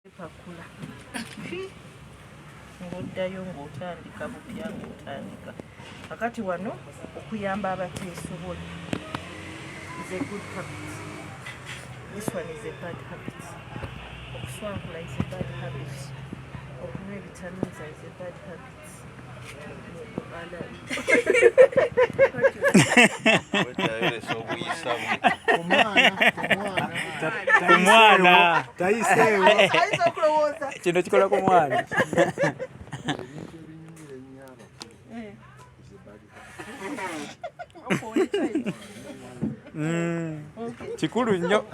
pakula ng'oddayo ng'otandika bupya ng'otandika kakati wano okuyamba abateesobola is a good habit this one is a bad habit okuswankula is a bad habit okunywa ebitamiiza is a bad habit kumwana kino kikola ku mwana Mm. kikulu nnyo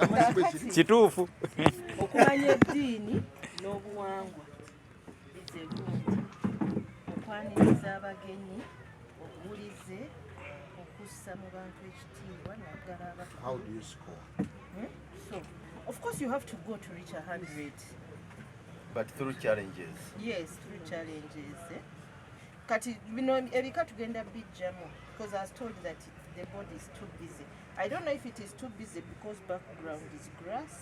kituufu okumanya eddiini n'obuwangwa okwaniriza abagenyi obuwulize okussa mu bantu ekitiibwa naddala hmm? so of course you have to go to reach 100 but through challenges yes through challenges eh? kati bino ebika tugenda bijjamu because i was told that the body is too busy i don't know if it is too busy because background is grass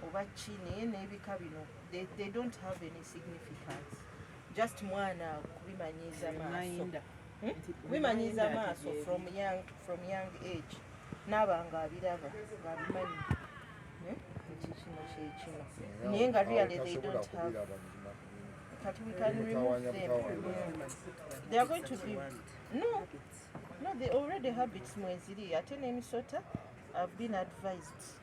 oba ki naye n'ebika bino they don't have any significance just mwana kubimanyiiza maaso hmm? kubimanyiiza maaso from young, from young age naaba nga abiraba nga abimanyi hmm? nti kino kyekino naye nga really they don't have kati we can remove them they are going to be no no the already habits mweziri ate n'emisota have been advised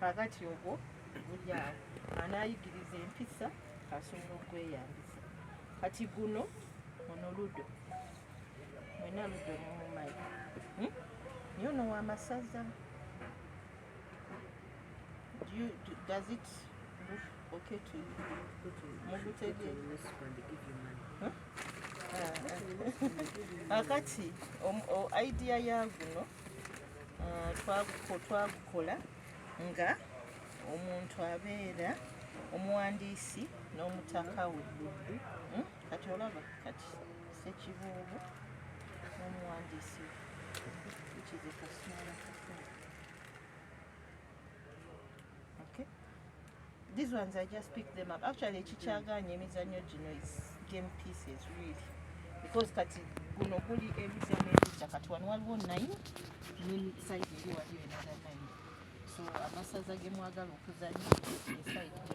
kakati ogwo bulyawo anayigiriza empisa asobola okweyambisa kati guno ono ludo mwena ludo mumumanyi hmm? naye ono wamasaza does it look okay to you mugutegeera kakati idea ya guno ah, twagukola nga omuntu abeera omuwandiisi n'omutaka we hmm? kati olaba kati sekibuubu n'omuwandiisi we These ones I just pick them up. Actually ekikyagaanye emizannyo gino is game pieces really because kati guno guli ebizannyo ebijja kati wano waliwo nine ne side eri waliyo enada nine so amasaza gemwagala okuzannya esaidi